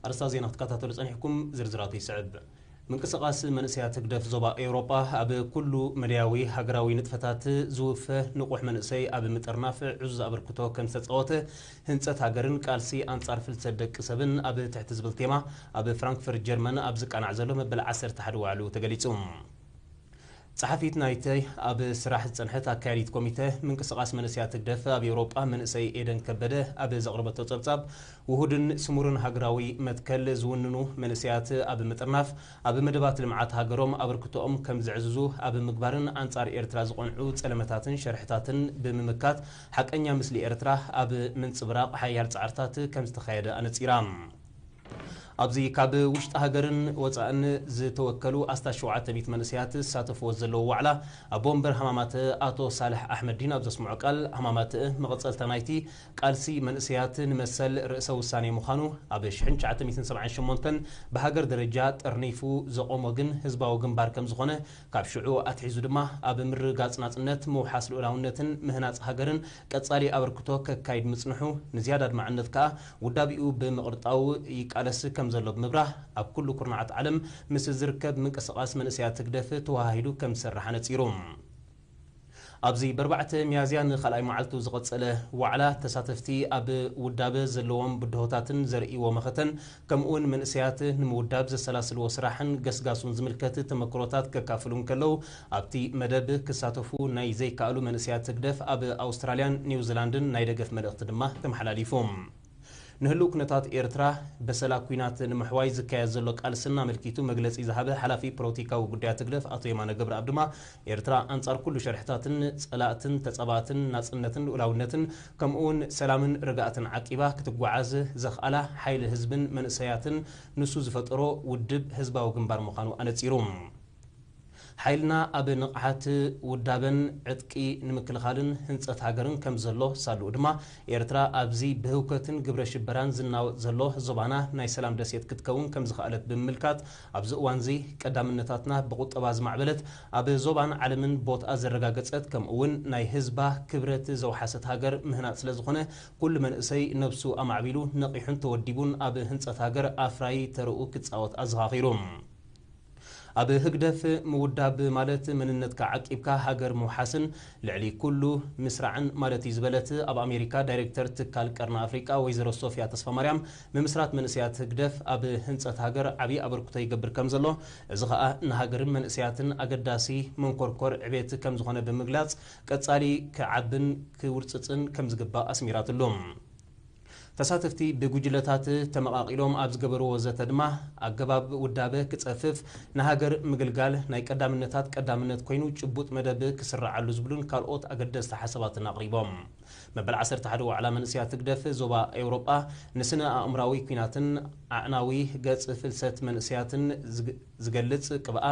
ኣርእስታት ዜና ክትከታተሉ ጸኒሕኩም፣ ዝርዝራቱ ይስዕብ። ምንቅስቓስ መንእሰያት ህግደፍ ዞባ ኤውሮጳ፣ ኣብ ኩሉ መዳያዊ ሃገራዊ ንጥፈታት ዝውፈ ንቑሕ መንእሰይ ኣብ ምጥርናፍ ዕዙዝ ኣበርክቶ ከም ዝተጻወተ፣ ህንጸት ሃገርን ቃልሲ ኣንጻር ፍልሰት ደቂ ሰብን ኣብ ትሕቲ ዝብል ቴማ ኣብ ፍራንክፈርት ጀርመን ኣብ ዝቃናዕ ዘሎ መበል ዓሰርተ ሓደ ዋዕላኡ ተገሊጹ። ጸሓፊት ናይ'ቲ ኣብ ስራሕ ዝጸንሐት ኣካያዲት ኮሚተ ምንቅስቓስ መንእሰያት ህግደፍ ኣብ ኤውሮጳ መንእሰይ ኤደን ከበደ ኣብ ዘቕረበቶ ጸብጻብ፣ ውሁድን ስሙርን ሃገራዊ መትከል ዝውንኑ መንእሰያት ኣብ ምጥርናፍ፣ ኣብ መደባት ልምዓት ሃገሮም ኣበርክቶኦም ከም ዘዕዝዙ ኣብ ምግባርን ኣንጻር ኤርትራ ዝቐንዑ ጸለመታትን ሸርሕታትን ብምምካት ሓቀኛ ምስሊ ኤርትራ ኣብ ምንጽብራቕ ሓያል ጻዕርታት ከም ዝተኻየደ ኣነጺራ። ኣብዚ ካብ ውሽጢ ሃገርን ወፃእን ዝተወከሉ ኣስታት ሸውዓተ ሚእቲ መንእሰያት ዝሳተፍዎ ዘለዉ ዋዕላ ኣቦ ወንበር ሃማማተ ኣቶ ሳልሕ ኣሕመዲን ኣብ ዘስምዖ ቃል ሃማማተ መቐፀልታ ናይቲ ቃልሲ መንእሰያት ንመሰል ርእሰ ውሳኔ ምዃኑ ኣብ ሽሕን ትሽዓተ ሚእትን ሰብዓን ሸሞንተን ብሃገር ደረጃ ጠርኒፉ ዘቖሞ ግን ህዝባዊ ግንባር ከምዝኾነ ካብ ሽዑ ኣትሒዙ ድማ ኣብ ምርግጋጽ ናጽነት፣ ምውሓስ ልኡላውነትን ምህናጽ ሃገርን ቀጻሊ ኣበርክቶ ከካይድ ምጽንሑ፣ ንዝያዳ ኣድማዕነት ከኣ ውዳቤኡ ብምቕርጣው ይቃለስ ከም ዘሎ ብምብራህ፣ ኣብ ኩሉ ኩርናዓት ዓለም ምስ ዝርከብ ምንቅስቓስ መንእሰያት ህግደፍ ተወሃሂዱ ከም ዝሰርሕ ኣነጺሩ። ኣብዚ በርባዕተ ሚያዝያ ንካልኣይ መዓልቱ ዝቐጸለ ዋዕላ፣ ተሳተፍቲ ኣብ ውዳበ ዘለዎም ብድሆታትን ዘርእይዎ መኸተን ከምኡ'ውን መንእሰያት ንምውዳብ ዘሰላስልዎ ስራሕን ገስጋሱን ዝምልከት ተመክሮታት ከካፍሉ እንከለዉ፣ ኣብቲ መደብ ክሳተፉ ናይ ዘይከኣሉ መንእሰያት ህግደፍ ኣብ ኣውስትራልያን ኒውዚላንድን ናይ ደገፍ መልእኽቲ ድማ ተመሓላሊፉ። ንህሉው ኩነታት ኤርትራ በሰላ ኩናት ንምሕዋይ ዝካየድ ዘሎ ቃልስን ኣመልኪቱ መግለጺ ዝሃበ ሓላፊ ፖሎቲካዊ ጉዳያት ህግደፍ ኣቶ የማነ ገብረኣብ ድማ ኤርትራ ኣንጻር ኩሉ ሸርሕታትን ጸላእትን ተጻባእትን ናጽነትን ልኡላውነትን ከምኡ'ውን ሰላምን ርግኣትን ዓቂባ ክትጓዓዝ ዘኽኣላ ሓይሊ ህዝብን መንእሰያትን ንሱ ዝፈጠሮ ውድብ ህዝባዊ ግንባር ምዃኑ ኣነጺሩ። ሓይልና ኣብ ንቕሓት፣ ውዳበን ዕጥቂ ንምክልኻልን ህንጸት ሃገርን ከም ዘሎ ሳልኡ ድማ፣ ኤርትራ ኣብዚ ብህውከትን ግብረ ሽበራን ዝናወጽ ዘሎ ዞባና ናይ ሰላም ደሴት ክትከውን ከም ዝኸኣለት ብምምልካት፣ ኣብዚ እዋንዚ ቀዳምነታትና ብቑጠባ ዝማዕበለት፣ ኣብ ዞባን ዓለምን ቦትኣ ዘረጋገጸት ከምኡ'ውን ናይ ህዝባ ክብረት ዘውሓሰት ሃገር ምህናጽ ስለ ዝኾነ ኩሉ መንእሰይ ነብሱ ኣማዕቢሉ ነቒሑን ተወዲቡን ኣብ ህንጸት ሃገር ኣፍራዪ ተርኡ ክጻወት ኣዘኻኺሩ። ኣብ ህግደፍ ምውዳብ ማለት መንነትካ ዓቂብካ ሃገር ምውሓስን ልዕሊ ኩሉ ምስራዕን ማለት እዩ ዝበለት ኣብ ኣሜሪካ ዳይሬክተር ትካል ቀርኒ ኣፍሪቃ ወይዘሮ ሶፍያ ተስፋማርያም ምምስራት መንእሰያት ህግደፍ ኣብ ህንጸት ሃገር ዓቢ ኣበርክቶ ይገብር ከምዘሎ እዚ ከኣ ንሃገርን መንእሰያትን ኣገዳሲ መንኮርኮር ዕቤት ከምዝኾነ ብምግላጽ ቀጻሊ ክዓብን ክውርጽጽን ከምዝግባእ ኣስሚራትሉ። ተሳተፍቲ ብጉጅለታት ተመቓቒሎም ኣብ ዝገበርዎ ዘተ ድማ፣ ኣገባብ ውዳበ ክጸፍፍ፣ ንሃገር ምግልጋል ናይ ቀዳምነታት ቀዳምነት ኮይኑ ጭቡጥ መደብ ክስርዓሉ ዝብሉን ካልኦት ኣገደስቲ ሓሳባትን ኣቕሪቦም። መበል ዓሰርተ ሓደ ዋዕላ መንእሰያት ህግደፍ ዞባ ኤውሮጳ ንስነ-ኣእምራዊ ኩናትን ኣዕናዊ ገጽ ፍልሰት መንእሰያትን ዝገልጽ ቅብኣ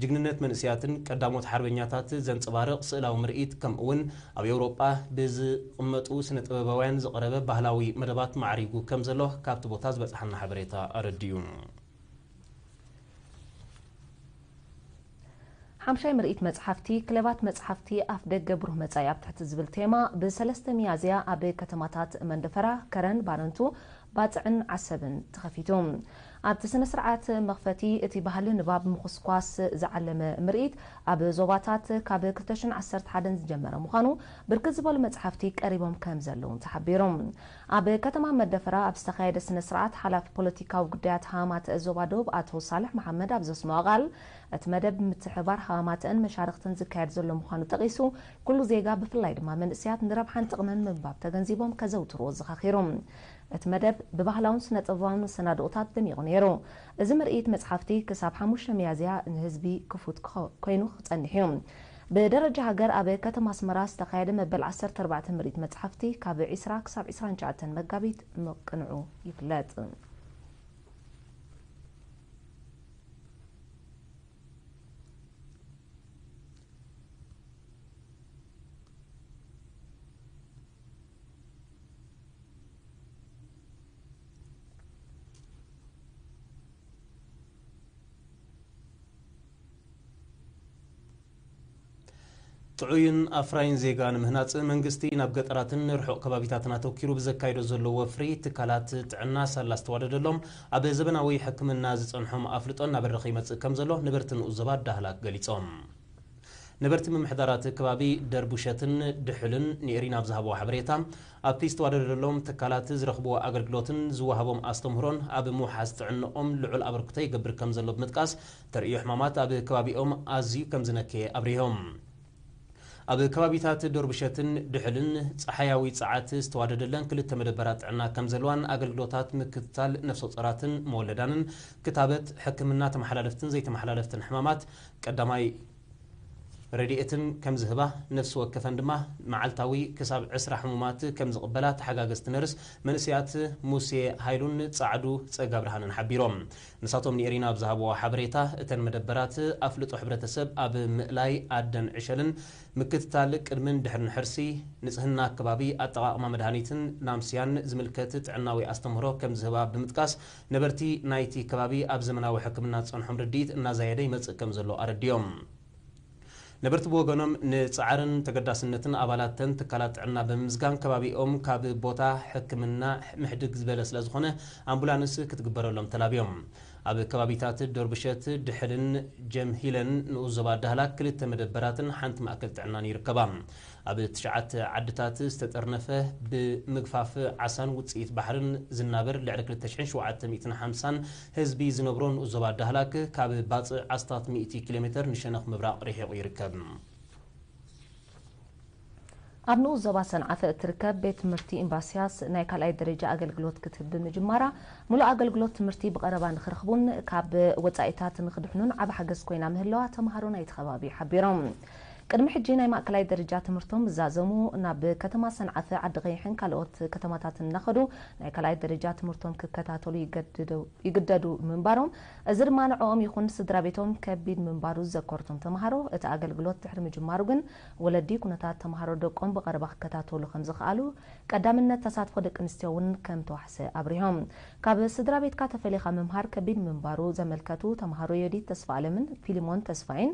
ጅግንነት መንእሰያትን ቀዳሞት ሓርበኛታት ዘንጸባርቕ ስእላዊ ምርኢት ከምእውን ኣብ ኤውሮጳ ብዝቕመጡ ስነ ጥበባውያን ዝቐረበ ባህላዊ መደባት ማዕሪጉ ከም ዘሎ ካብቲ ቦታ ዝበጽሓና ሓበሬታ ኣረዲኡ። ሓምሻይ ምርኢት መጽሓፍቲ፣ ክለባት መጽሓፍቲ ኣፍደገ ብሩህ መጻኢ ኣብ ትሕቲ ዝብል ቴማ ብ ሰለስተ ሚያዝያ ኣብ ከተማታት መንደፈራ፣ ከረን፣ ባረንቱ፣ ባጽዕን ዓሰብን ተኸፊቱ። ኣብቲ ስነ-ስርዓት መኽፈቲ፣ እቲ ባህሊ ንባብ ምኹስኳስ ዝዓለመ ምርኢት ኣብ ዞባታት ካብ ክልተ ሽሕን ዓሰርተ ሓደን ዝጀመረ ምዃኑ፣ ብርክት ዝበሉ መጽሓፍቲ ቀሪቦም ከምዘለዉን ተሓቢሩ። ኣብ ከተማ መደፈራ ኣብ ዝተኻየደ ስነ-ስርዓት፣ ሓላፊ ፖለቲካዊ ጉዳያት ሃማተእ ዞባ ዶብ ኣቶ ሳልሕ መሓመድ ኣብ ዘስመዖ ቃል፣ እቲ መደብ ብምትሕብባር ሃማተእን መሻርኽትን ዝካየድ ዘሎ ምዃኑ ጠቒሱ፣ ኩሉ ዜጋ ብፍላይ ድማ መንእሰያት ንረብሓን ጥቕምን ምንባብ ተገንዚቦም ከዘውትርዎ ኣዘኻኺሩ። እቲ መደብ ብባህላውን ስነ-ጥበባውን መሰናድኦታት ደሚቑ ነይሩ። እዚ ምርኢት መጽሓፍቲ ክሳብ ሓሙሽተ ሚያዝያ ንህዝቢ ክፉት ኮይኑ ክጸንሕ እዩ። ብደረጃ ሃገር ኣብ ከተማ ኣስመራ ዝተኻየደ መበል ዓሰርተ ኣርባዕተ ምርኢት መጽሓፍቲ ካብ ዕስራ ክሳብ ዕስራን ትሽዓተን መጋቢት ምቅንዑ ይፍለጥ። ጥዑይን ኣፍራይን ዜጋ ንምህናፅ መንግስቲ ናብ ገጠራትን ንርሑቕ ከባቢታትን ኣተኪሩ ብዘካይዶ ዘሎ ወፍሪ ትካላት ጥዕና ሳላ ዝተዋደደሎም ኣብ ዘበናዊ ሕክምና ዝፀንሖም ኣፍልጦ እናበረኸ ይመፅእ ከምዘሎ ነበርቲ ንኡስ ዞባ ዳህላክ ገሊፆም። ነበርቲ ምምሕዳር እቲ ከባቢ ደርቡሸትን ድሑልን ንኤሪና ኣብ ዝሃብዎ ሓበሬታ፣ ኣብቲ ዝተዋደደሎም ትካላት ዝረኽብዎ ኣገልግሎትን ዝወሃቦም ኣስተምህሮን ኣብ ምውሓስ ጥዕንኦም ልዑል ኣበርክቶ ይገብር ከምዘሎ ብምጥቃስ፣ ተርእዮ ሕማማት ኣብ ከባቢኦም ኣዝዩ ከምዝነከየ ኣብሪሆም። ኣብ ከባቢታት ደርቡሸትን ድሑልን ጸሓያዊ ጸዓት ዝተዋደደለን ክልተ መደበራት ጥዕና ከምዘለዋን ኣገልግሎታት ምክትታል ነፍሰጾራትን መወለዳንን፣ ክታበት፣ ሕክምና ተመሓላለፍትን ዘይተመሓላለፍትን ሕማማት፣ ቀዳማይ ረድኤትን ከም ዝህባ፣ ነፍሲ ወከፈን ድማ መዓልታዊ ክሳብ ዕስራ ሕሙማት ከም ዝቕበላ ተሓጋገዝቲ ነርስ መንእሰያት ሙሴ ሃይሉን ጻዕዱ ጸጋብርሃንን ሓቢሮም። ንሳቶም ንኤሪና ኣብ ዝሃብዎ ሓበሬታ፣ እተን መደበራት ኣፍልጦ ሕብረተሰብ ኣብ ምእላይ ኣደን ዕሸልን፣ ምክትታል ቅድምን ድሕርን ሕርሲ፣ ንጽህና ኣከባቢ፣ ኣጠቓቕማ መድሃኒትን ናምስያን ዝምልከት ጥዕናዊ ኣስተምህሮ ከም ዝህባ ብምጥቃስ፣ ነበርቲ ናይቲ ከባቢ ኣብ ዘመናዊ ሕክምና ዝጸንሖም ርድኢት እናዛየደ ይመጽእ ከምዘሎ ኣረዲኦም። ነበርቲ ብወገኖም ንጻዕርን ተገዳስነትን ኣባላት ተን ትካላት ጥዕና ብምምስጋን ከባቢኦም ካብ ቦታ ሕክምና ምሕድግ ዝበለ ስለዝኾነ ኣምቡላንስ ክትግበረሎም ተላብዮም። ኣብ ከባቢታት ዶርብሸት፣ ድሕልን ጀምሂለን ንኡስ ዞባ ዳህላክ ክልተ መደበራትን ሓንቲ ማእከል ጥዕናን ይርከባ። ኣብ ትሽዓተ ዓድታት ዝተጠርነፈ ብምግፋፍ ዓሳን ውጽኢት ባሕርን ዝናበር ልዕሊ ክልተ ሽሕን ሸውዓተ ሚእትን ሓምሳን ህዝቢ ዝነብሮ ንኡስ ዞባ ዳህላክ ካብ ባጽዕ ኣስታት ሚእቲ ኪሎ ሜተር ንሸነኽ ምብራቕ ርሒቑ ይርከብ። ኣብ ንኡስ ዞባ ሰንዓፈ እትርከብ ቤት ትምህርቲ ኢምባሲያስ ናይ ካልኣይ ደረጃ ኣገልግሎት ክትህብ ብምጅማራ ምሉእ ኣገልግሎት ትምህርቲ ብቐረባ ንኽረኽቡን ካብ ወጻኢታት ንኽድሕኑን ዓቢ ሓገዝ ኮይና ምህላዋ ተመሃሮ ናይቲ ከባቢ ሓቢሮም። ቅድሚ ሕጂ ናይ ማእከላይ ደረጃ ትምህርቶም ዛዘሙ ናብ ከተማ ሰንዓፈ፣ ዓዲ ቐይሕን ካልኦት ከተማታትን እናኸዱ ናይ ካልኣይ ደረጃ ትምህርቶም ክከታተሉ ይግደዱ ምንባሮም፣ እዚ ድማ ንዕኦም ይኹን ንስድራቤቶም ከቢድ ምንባሩ ዝዘከሩ እቶም ተመሃሮ፣ እቲ ኣገልግሎት ድሕሪ ምጅማሩ ግን ወለዲ ኩነታት ተመሃሮ ደቆም ብቐረባ ክከታተሉ ከምዝኸኣሉ፣ ቀዳምነት ተሳትፎ ደቂ ኣንስትዮ እውን ከምተዋሕሰ ኣብሪሆም። ካብ ስድራቤትካ ተፈሊኻ ምምሃር ከቢድ ምንባሩ ዘመልከቱ ተመሃሮ ዮዲት ተስፋኣለምን ፊሊሞን ተስፋይን፣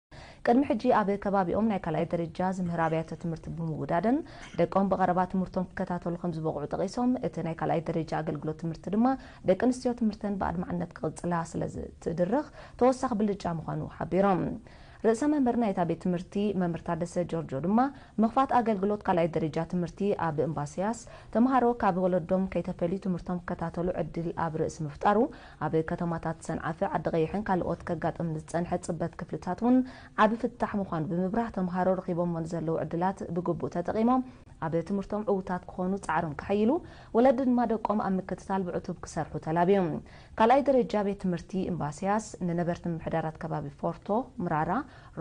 ቅድሚ ሕጂ ኣብ ከባቢኦም ናይ ካልኣይ ደረጃ ዝምህራ ኣብያተ ትምህርቲ ብምውዳደን ደቆም ብቐረባ ትምህርቶም ክከታተሉ ከምዝበቕዑ ጠቒሶም፣ እቲ ናይ ካልኣይ ደረጃ ኣገልግሎት ትምህርቲ ድማ ደቂ ኣንስትዮ ትምህርተን ብኣድማዕነት ክቕጽላ ስለዝትድርኽ ተወሳኺ ብልጫ ምዃኑ ሓቢሮም። ርእሰ መምህር ናይታ ቤት ትምህርቲ መምህር ታደሰ ጆርጆ ድማ ምኽፋት ኣገልግሎት ካልኣይ ደረጃ ትምህርቲ ኣብ እምባስያስ ተምሃሮ ካብ ወለዶም ከይተፈልዩ ትምህርቶም ክከታተሉ ዕድል ኣብ ርእሲ ምፍጣሩ ኣብ ከተማታት ሰንዓፈ፣ ዓዲቐይሕን ካልኦት ከጋጥም ንዝጸንሐ ጽበት ክፍልታት እውን ዓቢ ፍታሕ ምዃኑ ብምብራህ፣ ተምሃሮ ረኺቦሞ ንዘለዉ ዕድላት ብግቡእ ተጠቒሞም ኣብ ትምህርቶም ዕዉታት ክኾኑ ጻዕሮም ከሐይሉ፣ ወለዲ ድማ ደቆም ኣብ ምክትታል ብዕቱብ ክሰርሑ ተላብዮም። ካልኣይ ደረጃ ቤት ትምህርቲ እምባሲያስ ንነበርቲ ምምሕዳራት ከባቢ ፎርቶ፣ ምራራ፣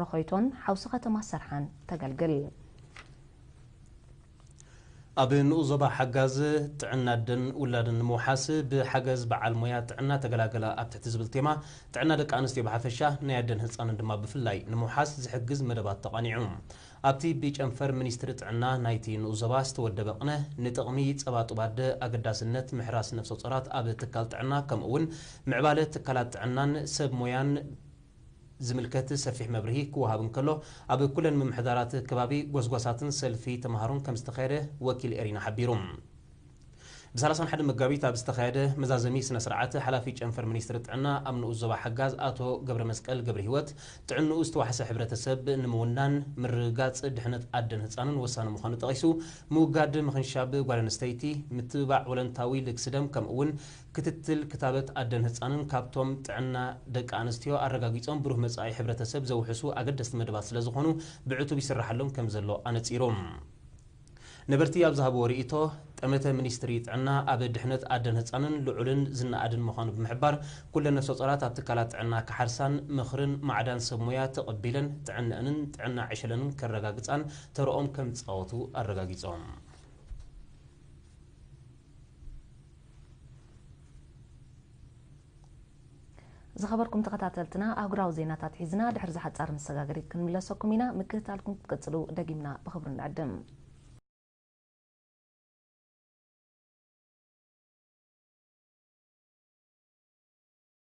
ሮኾይቶን ሓውሲ ከተማ ሰርሓን ተገልግል። ኣብ ንኡስ ዞባ ሓጋዝ ጥዕና ኣደን ውላድን ንምውሓስ ብሓገዝ በዓል ሞያ ጥዕና ተገላገላ ኣብ ትሕቲ ዝብል ቴማ ጥዕና ደቂ ኣንስትዮ ብሓፈሻ ናይ ኣደን ህፃንን ድማ ብፍላይ ንምውሓስ ዝሕግዝ መደባት ተቓኒዑ። ኣብቲ ብጨንፈር ሚኒስትሪ ጥዕና ናይቲ ንኡስ ዞባ ዝተወደበ ቕነ ንጥቕሚ ፀባ ጡብ ኣደ፣ ኣገዳስነት ምሕራስ ነፍሰፆራት ኣብ ትካል ጥዕና ከምኡ እውን ምዕባለ ትካላት ጥዕናን ሰብ ሞያን ዝምልከት ሰፊሕ መብርሂ ክወሃብ እንከሎ፣ ኣብ ኩለን ምምሕዳራት ከባቢ ጎስጓሳትን ሰልፊ ተመሃሮን ከምዝተኻየደ ወኪል ኤሪና ሓቢሩ። ብ ሰላሳን ሓደን መጋቢት ኣብ ዝተኻየደ መዛዘሚ ስነ-ስርዓት፣ ሓላፊ ጨንፈር ሚኒስትሪ ጥዕና ኣብ ንኡስ ዞባ ሓጋዝ ኣቶ ገብረመስቀል ገብሪሂወት፣ ጥዕንኡ ዝተዋሕሰ ሕብረተሰብ ንምውናን፣ ምርግጋጽ ድሕነት ኣደን ህጻንን ወሳኒ ምዃኑ ጠቒሱ፣ ምውጋድ ምኽንሻብ ጓል ኣንስተይቲ፣ ምትብባዕ ወለንታዊ ልግሲ ደም ከምኡ'ውን ክትትል ክታበት ኣደን ህጻንን ካብቶም ጥዕና ደቂ ኣንስትዮ ኣረጋጊጾም ብሩህ መጻኢ ሕብረተሰብ ዘውሕሱ ኣገደስቲ መደባት ስለዝኾኑ ብዕቱብ ይስራሓሎም ከምዘሎ ኣነጺሩ። ነበርቲ ኣብ ዝሃብዎ ርእይቶ፣ ጠመተ ሚኒስትሪ ጥዕና ኣብ ድሕነት ኣደን ህጻንን ልዑልን ዝነኣድን ምዃኑ ብምሕባር፣ ኩለን ነፍሰጾራት ኣብ ትካላት ጥዕና ክሓርሳን ምኽርን ማዕዳን ሰብ ሞያ ተቐቢለን ጥዕነኣንን ጥዕና ዕሸለንን ከረጋግጻን ተርኦም ከምዝጻወቱ ኣረጋጊጾም። ዝኸበርኩም ተኸታተልትና ኣህጉራዊ ዜናታት ሒዝና ድሕሪ ዝሓጻር መሰጋገሪት ክንምለሰኩም ኢና። ምክትታልኩም ክትቅጽሉ ደጊምና ብኽብሪ ንዕድም።